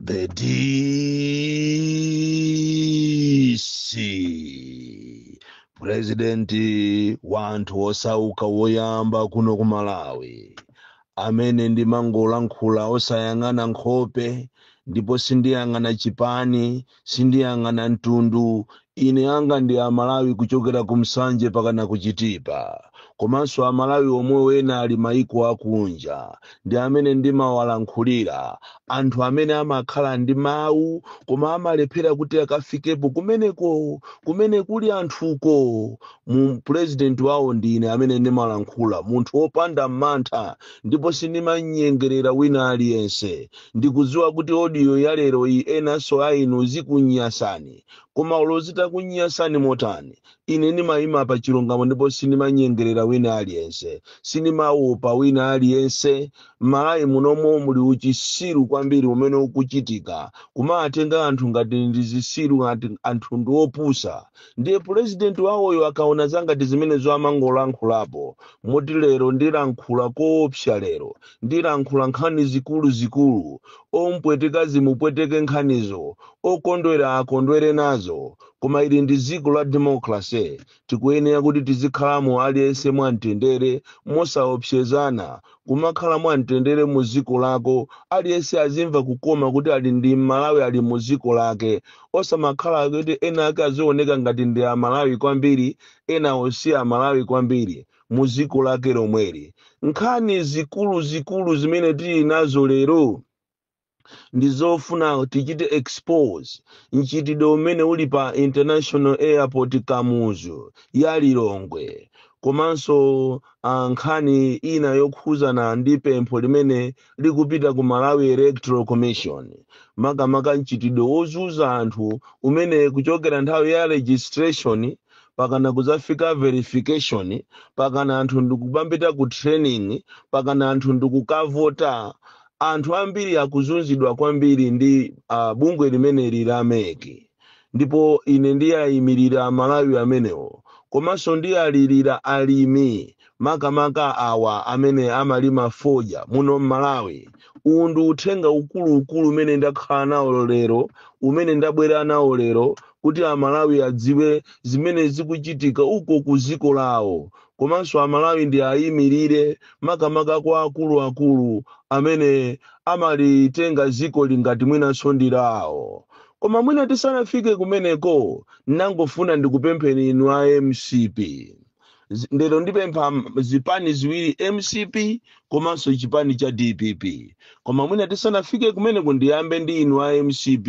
The DC purezidenti wa anthu osauka woyamba kuno ku Malawi amene ndimangolankhula osayang'ana nkhope ndipo sindiyang'ana chipani sindiyang'ana mtundu ine anga ndi amalawi kuchokera ku Nsanje pakana ku chitipa komanso amalawi omwewo ena ali maiko akunja ndi amene ndimawalankhulira anthu amene amakhala ndi mawu koma amalephera kuti akafikepo kumeneko kumene kuli anthuko mu pulezidenti wawo ndine amene ndimalankhula munthu wopanda mantha ndipo sindimanyengerera wina aliyense Ndikudziwa kuti audio ya lero iyi enanso a inu zikunyasani. Koma olo zitakunyasani motani, ine ndimayima pa chilungamo ndipo sindimanyengerera wina aliyense. Sindimaopa wina aliyense. M'Malawi munomo muli uchisiru kwambiri umene ukuchitika. Kumawatenga anthu ngati ndi zisiru ngati anthu ndi opusa. Ndiye pulezidenti wawoyo akaona zangati zimenezo amangolankhulapo. Moti lero ndilankhula koopsa lero. Ndilankhula nkhani zikuluzikulu, ompweteka zimupweteke nkhanizo, okondwera akondwere nazo. Koma ili ndi dziko la democracy, tikuyenera kuti tizikhalamo aliyense mwa mtendere, mosaopsezana, kumakhala mwa mtendere mu dziko lako, aliyense azimva kukoma kuti ali ndi Mmalawi ali mu dziko lake, osamakhala kuti enaake azioneka ngati ndi a Malawi kwambiri, enawo si a Malawi kwambiri. mu dziko lake lomweli nkhani zikuluzikulu zimene tili nazo lero ndi zofuna tichite expose mchitidwe umene uli pa international airport kamuzu ya lilongwe komanso ah, nkhani ina yokhuzana ndi pempho limene likupita ku malawi electoral commission makamaka mchitidwe wozunza anthu umene kuchokera nthawi ya registration pakana kuzafika verification pakana anthu ndikupambita ku training pakana anthu ndikukavota anthu ambiri akuzunzidwa kwambiri ndi uh, bungwe limeneli la MEC ndipo ine ndiyayimirira amalawi amenewo komanso ndiyalirira alimi makamaka awa amene amalima fodya muno m'malawi uwu ndi uthenga ukuluukulu umene ndakhala nawo lero umene ndabwera nawo lero kuti amalawi adziwe zimene zikuchitika uko ku dziko lawo komanso amalawi ndiayimirire makamaka kwa akuluakulu amene amalitenga dzikoli ngati mwinanso ndi lawo koma mwina tisanafike kumeneko ndangofuna ndikupempheni inu a mcp Zi- ndero ndipempha m- zipani ziwiri mcp komanso chipani cha dpp koma mwina tisanafike kumeneko ndiyambe ndi inu a mcp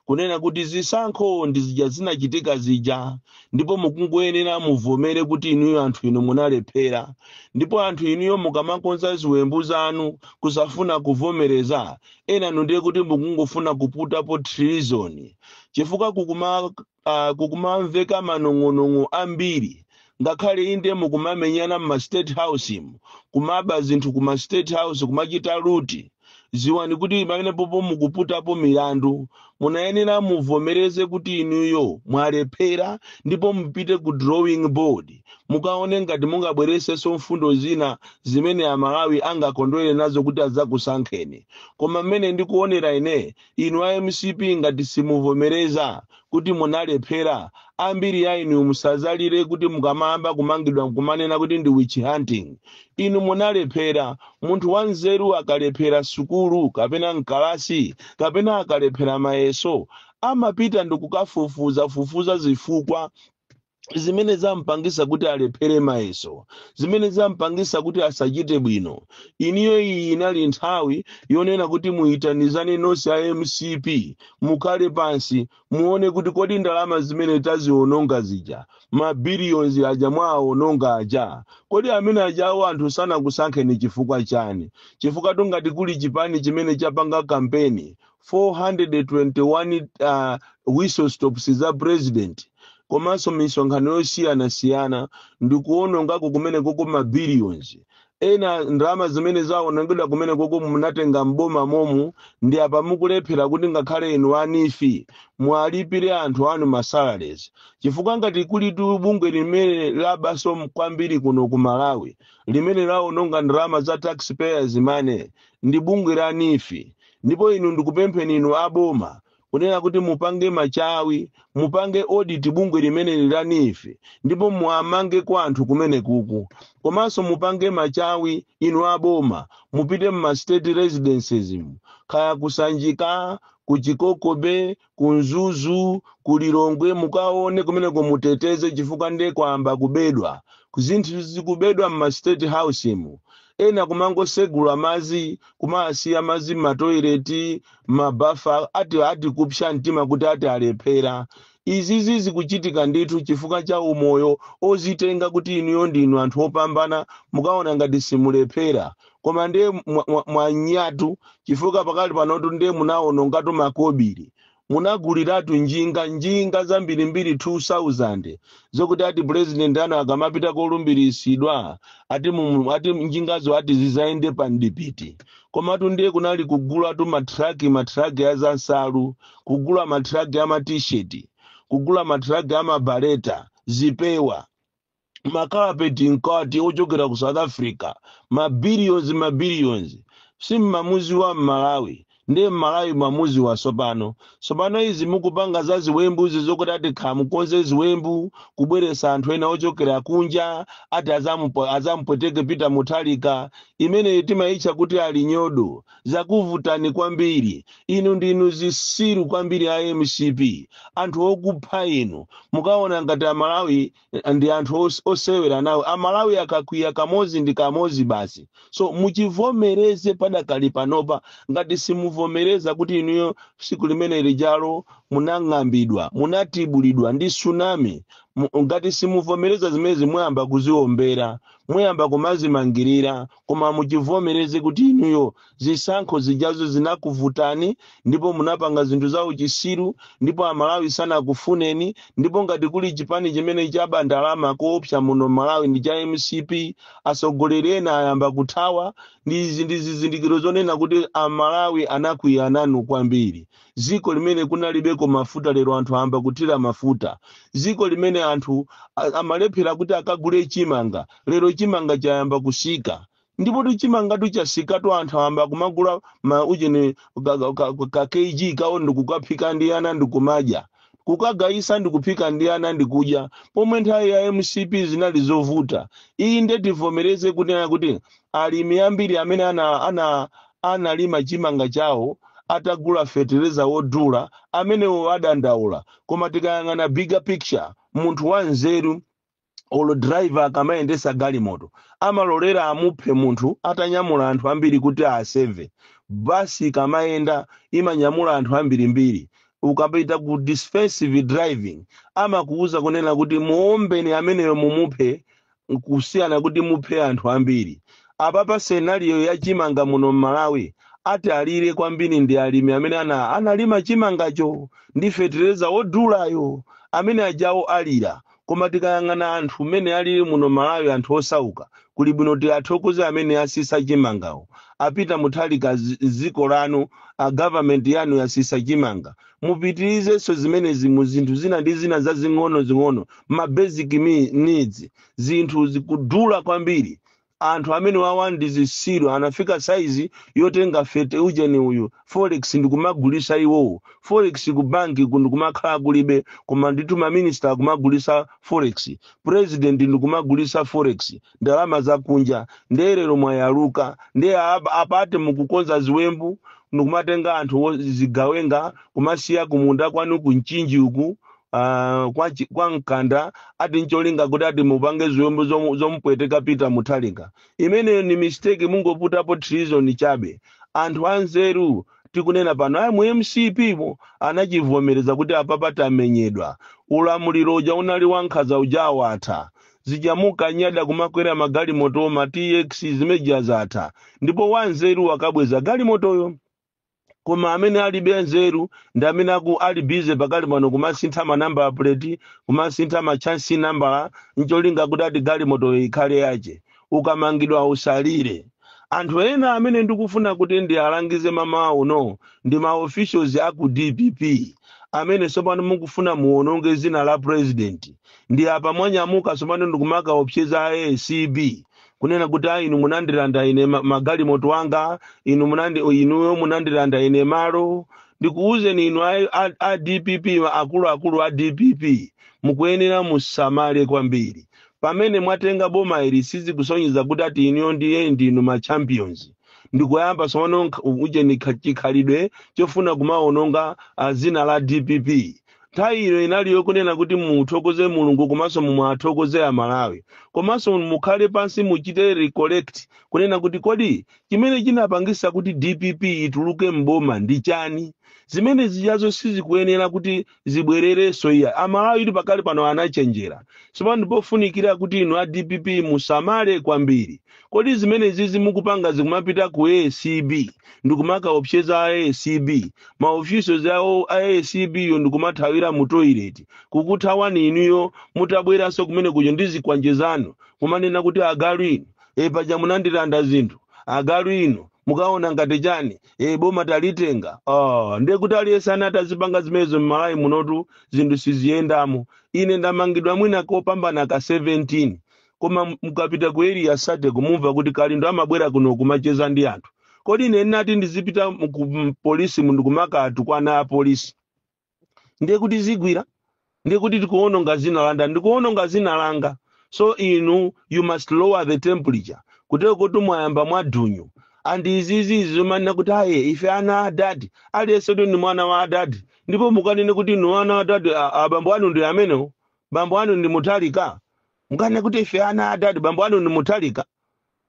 kunena kuti zisankho ndi zija zinachitika zija ndipo mukungoyenera muvomere kuti inuyo anthu inu munalephera ndipo anthu inuyo mukamakonza ziwembu zanu kusafuna kuvomereza enanu ndiye kuti mukungofuna kuputapo treason chifukwa kukuma uh, kukumamveka manong'onong'o ambiri ngakhale inde mukumamenyana mma state house mu kumaba zinthu kuma state house kumachita loot ziwani kuti pamenepopo mukuputapo milandu munayenera muvomereze kuti inuyo mwalephera ndipo mupite ku drawing board mukaone ngati mungabweresenso mfundo zina zimene amalawi angakondwere nazo kuti adzakusankheni koma mmene ndikuonera ine Inu a mcp ngati simuvomereza kuti munalephera, ambiri ya inu musazalire kuti mukamayamba kumangidwa kumanena kuti ndi witch hunting. Inu munalephera. Munthu wanzeru akalephera sukulu kapena m'kalasi kapena akalephera mayeso, amapita ndikukafufuzafufuza zifukwa. zimene zampangisa kuti alephere mayeso zimene zampangisa kuti asachite bwino inuyo iyi inali nthawi yonena kuti muyitanizane nonse a mcp mukhale pansi muone kuti kodi ndalama zimene taziononga zija mabiliyonzi aja mwaawononga aja kodi amene ajawo anthu sanakusankheni chifukwa chani chifukwa tungati kuli chipani chimene chapanga kampeni 421 uh, whistle stops za president komanso misonkhano yosiyanasiyana ndi kuonongako kumenekoko ma billions ena ndalama zimene zaonongedwa kumenekoko munatenga mboma momu ndi apa mukulephera kuti ngakhale inu a neef muwalipire anthu anu masalaries chifukwa ngati kulitu bungwe limene labaso kwambiri kuno ku malawi limene laononga ndalama za taxpayers money ndi bungwe la neef ndipo inu ndikupempheni inu a boma kunena kuti mupange machawi mupange audit bungwe limeneli la NEEF ndipo muwamange kaye anthu kumenekuku komanso mupange machawi inu a boma mupite mma state residences mu kaya kusanjika ku chikoko bay ku mzuzu ku lilongwe mukaone kumeneko muteteze chifukwa nde kwamba kubedwa zinthu zikubedwa mma state house mu ena kumangosegula mazi kumasiya mazi mmatoileti mmabafa ati ati kupsa mtima kuti ati alephera izizi zikuchitika ndithu chifukwa cha umoyo ozitenga kuti inuyo ndinu anthu opambana mumaona ngati simulephera koma ndiye mwa- mwa- mwanyatu chifukwa pakali panotu ndiye munawonongatu makobiri, munaguliratu njinga njinga zambirimbiri 2000 zokuti ati purezidenti anu akamapita kolumbiritsidwa ati, mu- ati njingazo ati zizayende pa mdipiti komatu ndiye kunali kugulatu matraki matraki a zansalu kugula matraki a matisheti kugula matraki a mabaleta zipewa makapeti mkati ochokera ku south africa mabilions mabilions simmamudziwa mmalawi ndiye mmalawi mwamudziwa sopano sopano izi mukupanga za ziwembuzi zokuti ati kaya mukonze ziwembu kubweresa anthu ena ochokera kunja ati azamupo- azamupweteke peter mutharika imeneyi timayitcha kuti ali nyodo zakuvutani kwambiri inu ndinu zisiru kwambiri a mcp anthu okupha inu mukaona ngati amalawi eh, ndi anthu os- osewera nawo amalawi akakwiya kamozi ndi kamozi basi so muchivomereze padakali panopa ngati simuvomereza kuti inuyo siku limene lijalo munang'ambidwa munatibulidwa ndi tsunami Mu- ngati simuvomereza zimezi muyamba kuziombera muyamba kumazimangirira koma muchivomereze kuti inuyo zisankho zijazo zinakuvutani ndipo munapanga zinthu za uchisiru ndipo amalawi sanakufuneni ndipo ngati kuli chipani chimene chaba ndalama koopsa muno mmalawi ndi cha mcp atsogoleri ena ayamba kuthawa ndi izi ndi zizindikiro zonena kuti amalawi anakwiya nanu kwambiri dziko limene kunalibeko mafuta lero anthu ayamba kuthira mafuta dziko limene anthu a- amalephera kuti akagule chimanga lero chimanga chayamba kusika ndipo chimangatu chasikatu anthu ayamba kumagula ma ujeni ka, ka, ka, ka kg kawo ndikukaphika ndi ana ndikumadya kukagayisa ndikuphika ndi ana ndikudya pomwe nthawi ya mcp zinali zovuta iyi ndiye tivomereze kunena kuti alimi ambiri amene ana, ana analima chimanga chawo atagula fetereza wodula, amenewo adandaula. Koma tikayang'ana bigger picture, munthu wanzeru olo driver akamayendetsa galimoto amalolera amuphe munthu atanyamula anthu ambiri kuti aseve. Bus ikamayenda imanyamula anthu ambirimbiri. Ukapita ku defensive driving amakuuza kunena kuti muombeni ameneyo mumuphe kusiyana kuti muphe anthu ambiri apapa scenario ya chimanga muno mmalawi atalire kwambiri ndi alimi amene ana analima chimangacho ndi fetereza wodulayo amene ajawo alira koma tikayang'ana anthu mmene alili muno mmalawi anthu osauka kuli bwino tiathokoze amene asisa chimangawo a peter mutharika zi- ziko lanu a government yanu yasisa chimanga mupitirizenso zimenezi mu zinthu zina ndi zina zazing'onozing'ono ma basic mi- needs zinthu zikudula kwambiri anthu amenewawa ndi zitsiru anafika saizi yotenga fete- ujeni uyu forex ndikumagulisa iwowo forex ku banki ku n'kumakhala kulibe koma nditumaminista akumagulisa forex president ndikumagulisa forex ndalama zakunja ndiye lero mwayaluka ndiye apa- apate mukukonza ziwembu ndikumatenga anthu o- zigawenga kumasiya kumunda kwanu ku mchinji uku ah, kwa, chi- kwa mkanda ati ncholinga kuti ati mupange ziwembu zomu- zomupweteka pita mutharika imeneyo ni mistake mungoputapo treason chabe anthu anzeru tikunena pano aya mu mcp mo anachivomereza kuti apapa tamenyedwa ulamuliro uja unali wankhaza uja watha zija munkanyada kumakwera magalimoto ma tx zimeja zatha ndipo wanzeru wakabweza galimotoyo koma amene alibe anzeru ndi amene aku ali busy pakadali pano kumasintha manamba plate kumasintha ma chassis number ncholinga kuti ati galimotoyo ikhale yache ukamangidwa usalire anthu ena amene ndikufuna kuti ndialangize mmawa uno ndi ma officials a ku dpp amene tsopano mukufuna muwononge dzina la president ndi apa mwanyamuka tsopano ndikumakaopseza a acb kunena kuti a inu munandilanda ine ma- magalimoto anga inu munandi inuyo munandilanda ine malo ndikuwuzeni inu a, a, a dpp akuluakulu a dpp mukuyenera musamale kwambiri pamene mwatenga boma ili sizikusonyeza kuti ati inuyo ndiye ndinu ma champions ndikuyamba tsopano nkha- ujeni kha- chikhalidwe chofuna kumawononga ah, dzina la dpp nthawi ino inali yokunena kuti muthokoze mulungu komanso muwathokoze amalawi komanso mukhale pansi muchite recollect kunena kuti kodi chimene chinapangisa kuti dpp ituluke mboma ndi chani zimene zijazo sizikuyenera kuti zibwererenso iya amalawi pakadali pano anachenjera sopano ndipofunikira kuti inu a dpp musamale kwambiri kodi zimenezizi mukupangazi kumapita ku acb ndikumakaopseza a acb maofisa awo a acb wo ndikumathawira mu toilet kukuthawani inuyo mutabweranso kumene kuja ndi zikwanje zanu kumanena kuti agalu inu e paja munandilanda zinthu agalu inu mukaona ngati chani e boma talitenga oh, ndiye kuti aliyense ana atazipanga zimenezo mmalawi munotu zinthu siziyendamo ine ndamangidwa mwina kopambana ka 17 koma m- mukapita ku area 30 nkumva kuti kalindo amabwera kuno kumacheza ndi anthu kodi ine ndinati ndizipita mu- ku m- polisi mo ndi kumakatukwana a polisi ndiye kuti zigwira ndiye kuti mukuononga dzina langa mukuononga dzina langa so inu you must lower the temperature kutero kuti mwayamba mwadonyo and izizi zomanena kuti aye ife ana a adadi aliyense ndi mwana wa adadi ndipo mukanena kuti inu ana a adadi a- abambo anu ndi amenewo bambo anu ndi mutharika mukanena kuti ife ana adadi bambo anu ndi mutharika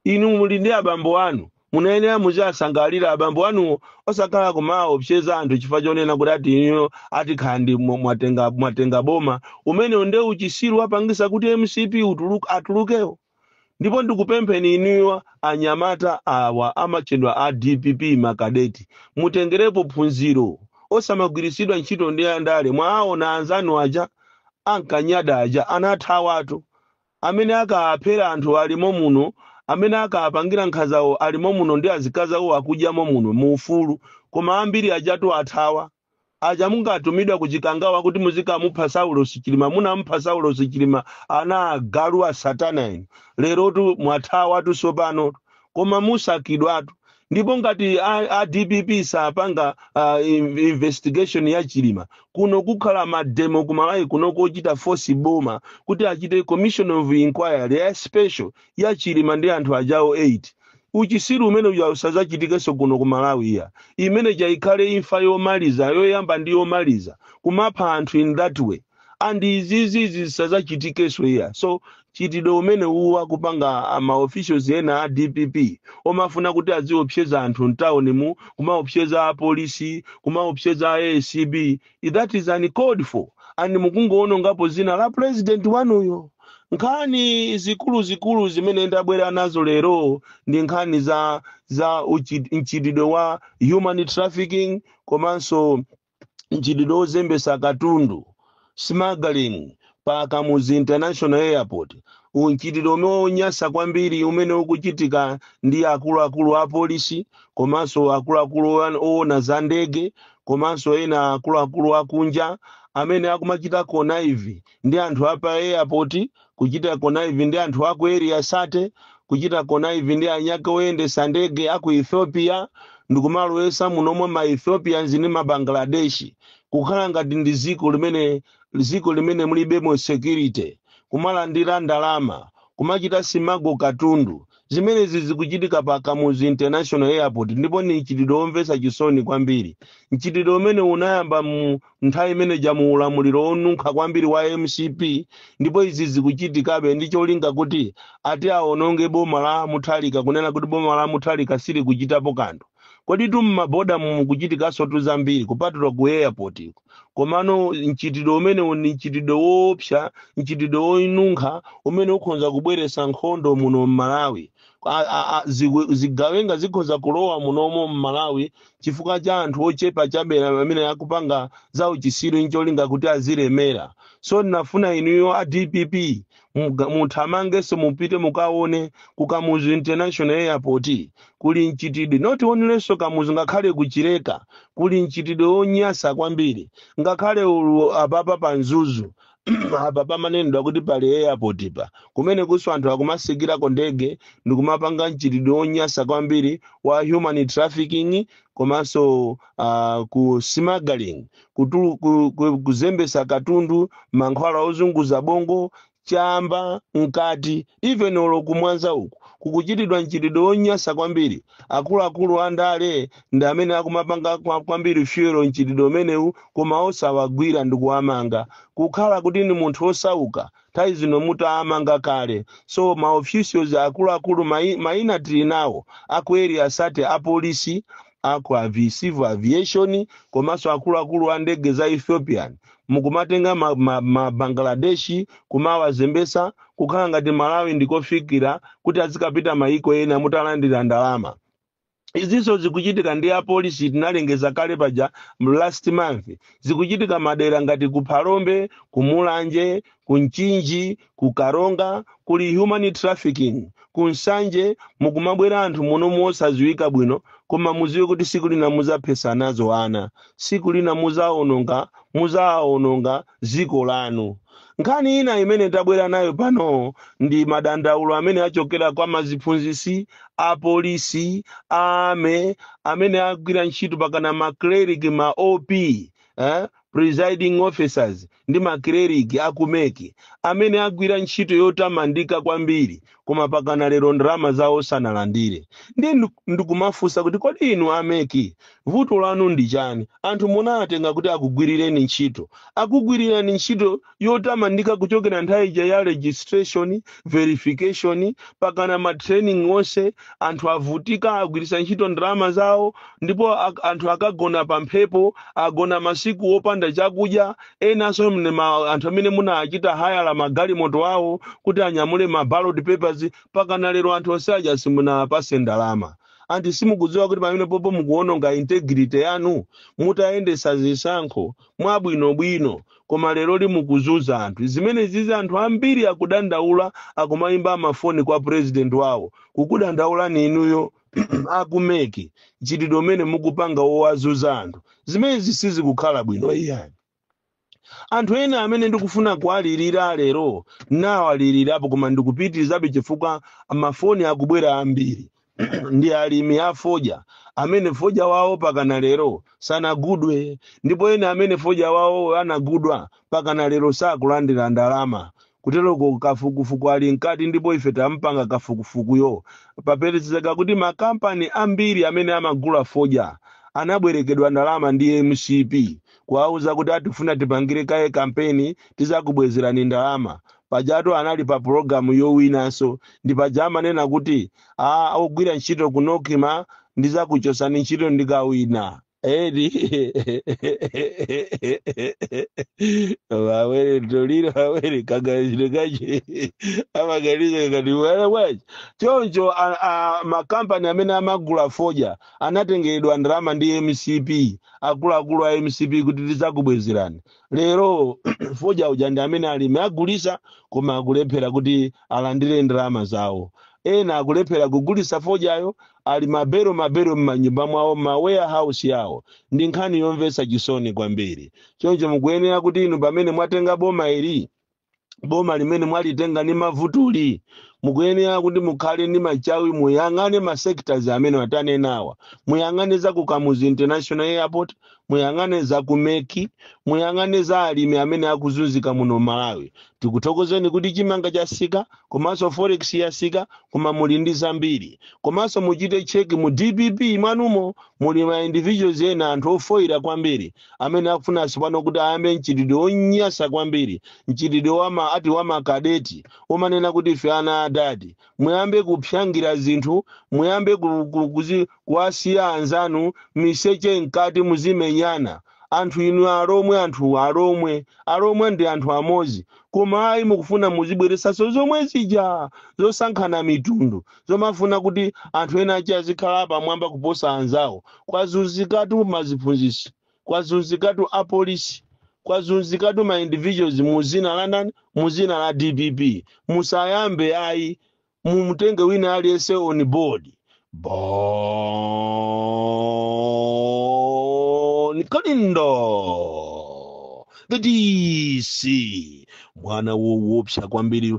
inu muli ndi abambo anu munayenera muziwasangalira abambo anuwo osakhala kumaopseza anthu chifukwa chonena kuti ati inuyo ati kaya ndi mwa- mwatenga mwatenga boma umenewo nde uchisiru wapangisa kuti mcp ituluke atulukewo ndipo ndikupempheni inuyo anyamata awa amatchedwa a dpp makadeti mutengerepo phunziro osamagwiritsidwa ntchito ndi andale mwaona anzanu aja ankanyada aja anathawatu, amene ankaphera anthu ali momuno, amene ankapangira nkhanzawo ali momuno ndi azikazi awo akudya momuno mu ufulu, koma ambiri ajatu athawa. Aja munkatumidwa ku Chikangawa kuti muzikamupha Saulos Chilima, munamupha Saulos Chilima ana agalu asatana inu, lerotu mwathawatu tsopano, koma musakidwatu ndipo ngati a, a dpp sapanga uh, in- investigation ya chilima kuno kukhala mademo ku malawi kuno kochita force boma kuti achite commission of inquiry ya special ya chilima ndi anthu ajawo 8 uchisiru umene uja usadzachitikenso kuno ku malawi ayi imene ija ikhale imfa yomaliza yoyamba ndi yomaliza kumapha anthu in that way and izizi zisadzachitikenso ayi so mchitidwe umene uwu akupanga ma officials ena a dpp omafuna kuti aziopseza anthu mtawunimu kumaopseza apolisi kumaopseza acb that is uncalled for and mukungoonongapo dzina la president wanuyo nkhani zikuluzikulu zimene ndabwera nazo lero ndi nkhani za za uchi- mchitidwe wa human trafficking komanso mchitidwe ozembesa katundu, smuggling, pa Kamuzu International Airport, mchitidwe umene uli onyasa kwambiri umene ukuchitika ndi akuluakulu apolisi komanso akuluakulu oyan- owona za ndege komanso ena akuluakulu akunja amene akumachita connive ndi anthu apa airport kuchita connive ndi anthu a ku area 30 kuchita connive ndi anzake oyendesa ndege a ku ethiopia ndikumalowesa munomwe ma ethiopians ndi ma bangladeshi kukhala ngati ndi dziko limene dziko limene mulibemo security kumalandira ndalama kumachita smuggle katundu Zimenezi zikuchitika pa Kamuzu International Airport ndipo ni mchitidwe womvesa chisoni kwambiri. Mchitidwe umenewu unayamba mu nthawi imene ija mu ulamuliro wonunkha kwambiri wa mcp ndipo izi zikuchitikabe ndi cholinga kuti ati awononge boma la Mutharika kunena kuti boma la Mutharika silikuchitapo kanthu. Koditu m'maboda mukuchitikanso tu zambiri kupatula ku airport. komano mchitidwe umenewu ndi mchitidwe woopsa mchitidwe wonunkha umene ukhoza kubweretsa nkhondo muno m'malawi A- a- a- ziwe- zigawenga zikhoza kulowa munomo m'malawi chifukwa cha anthu ochepa chabe amene akupanga za uchisiru ncholinga kuti azilemera so ndinafuna inuyo a dpp Muga- muthamangenso mupite mukaone ku kamuzu international airport kuli mchitidwe not onlynso Kamuzu ngakhale ku Chileka kuli mchitidwe wonyasa kwambiri ngakhale ulu apapa pa Mzuzu apa pamanenedwa kuti pali airport pa kumene kunso anthu akumasikirako ndege ndikumapanga mchitidwe wonyasa kwambiri wa human trafficking komanso uh, ku smuggling kutulu- ku- ku- kuzembesa katundu mankhwala ozunguza bongo chamba mkati even olo ku Mwanza uku kukuchitidwa mchitidwe wonyasa kwambiri akuluakulu a ndale ndi amene akumapanga kwa- kwambiri fuel mchitidwe umenewu koma osawagwira ndi kuwamanga kukhala kuti ndi munthu wosauka nthawi zino mutaamanga kale so maofficials akuluakulu mai- maina tili nawo aku Area 30 apolisi aku avi, civil aviation komanso akuluakulu a ndege za ethiopian mukumatenga ma, ma, ma Bangladeshi kumawazembesa kukhala ngati Malawi ndi kofikira kuti azikapita mayiko ena mutalandira ndalama izinso zikuchitika ndi apolisi tinalengeza kale paja m- last month zikuchitika madera ngati ku phalombe ku mulanje ku mchinji ku karonga kuli human trafficking ku nsanje mukumabwera anthu muno mosadziwika bwino koma muziwe kuti siku lina muzaphesa nazo ana siku lina muzaononga muzaononga dziko lanu nkhani ina imene tabwera nayo pano ndi madandaulo amene achokera kwa maziphunzisi apolisi ame amene agwira ntchito pakana macleric ma PO eh? presiding officers ndi makleriki a ku MEC amene agwira ntchito yotamandika kwambiri koma pakana lero ndalama zawo sanalandire ndiye ndu- ndikumafunsa kuti kodi inu a MEC vuto lanu ndi chani anthu munawatenga kuti akugwirireni ntchito akugwirirani ntchito yotamandika kuchokera nthawi ija ya registration verification pakana ma training onse anthu avutika agwiritsa ntchito ndalama zawo ndipo ak- anthu akagona pa mphepo agona masiku opanda chakudya enanso mne ma- anthu amene munachita hayala magalimoto awo kuti anyamule ma ballot papers pakana lero anthu onse aja simunapase ndalama anti simukudziwa kuti pamenepopo mukuononga integrity yanu mutayendetsa zisankho mwabwinobwino koma lero li mukuzunza anthu zimenezizi anthu ambiri akudandaula akumayimba mafoni kwa president wawo kukudandaulani inuyo a ku MEC mchitidwe umene mukupanga wowazunza anthu zimenezi sizikukhala bwino iyayi anthu ena amene ndikufuna kuwalirira lero nawalirirapo koma ndikupitirizabe chifukwa mafoni akubwera ambiri ndi alimi a fodya amene fodya wawo pakana lero sanagulidwe ndipo ena amene fodya wawo anagulidwa pakana lero sakulandira ndalama kuteroko kafukufuku ali mkati ndipo ife tapanga kafukufukuyo papezeka kuti makampani ambiri amene amagula fodya anabwerekedwa ndalama ndi mcp kuwauza kuti ati tifuna tipangire kaye kampeni tizakubwezerani ndalama pajatu anali pa pulogalamu yowinanso ndi paja amanena kuti ogwira ntchito ku nocma ndizakuchosani ntchito ndikawina edi wawere toliro wawere kaganizire kaje amaganiza kuti wala wachi choncho a- a- makampani amene amagula fodya anatengeredwa ndalama ndi mcp akuluakulu a mcp kuti tizakubwezerani lero fodya uja ndi amene alimi agulisa koma akulephera kuti alandire ndalama zawo ena akulephera kugulisa fodyayo ali mabero mabero m'manyumba mwawo m'ma warehouse yawo ndi nkhani yomvetsa chisoni kwambiri choncho mukuyenera kuti inu pamene mwatenga boma ili boma limene mwalitenga ni mavutuli mukuyenera kuti mukhale ni machawi muyang'ane ma sectors amene atanenawa muyang'ane za ku kamuzu international airport muyang'ane za ku MEC muyang'ane za alimi amene akuzunzika muno malawi tikuthokozeni kuti chimanga chasika komanso forex yasika koma muli ndi zambiri komanso muchite check mu dpp mwanumo muli ma individuals ena anthu ofoyira kwambiri amene akufuna tsopano kuti ayambe mchitidwe onyasa kwambiri mchitidwe wama ati wamakadeti omanena kuti ife ana adadi muyambe kuphangira zinthu muyambe ku- ku- kuzi- kuwasiya anzanu miseche mkati muzimenyana anthu inu alomwe anthu alomwe alomwe ndi anthu amodzi koma ayi mukufuna muzibweresanso zomwe zija zosankhana mitundu zomafuna kuti anthu ena ake azikhala apamwamba kuposa anzawo kwazunzikatu maziphunzitsi kwazunzikatu apolisi kwazunzikatu ma individuals mu zina la ndani mu zina la dpp musayambe ayi mumutenge wina aliyense on board bon kalindo the dc mwana wowopsa kwambiri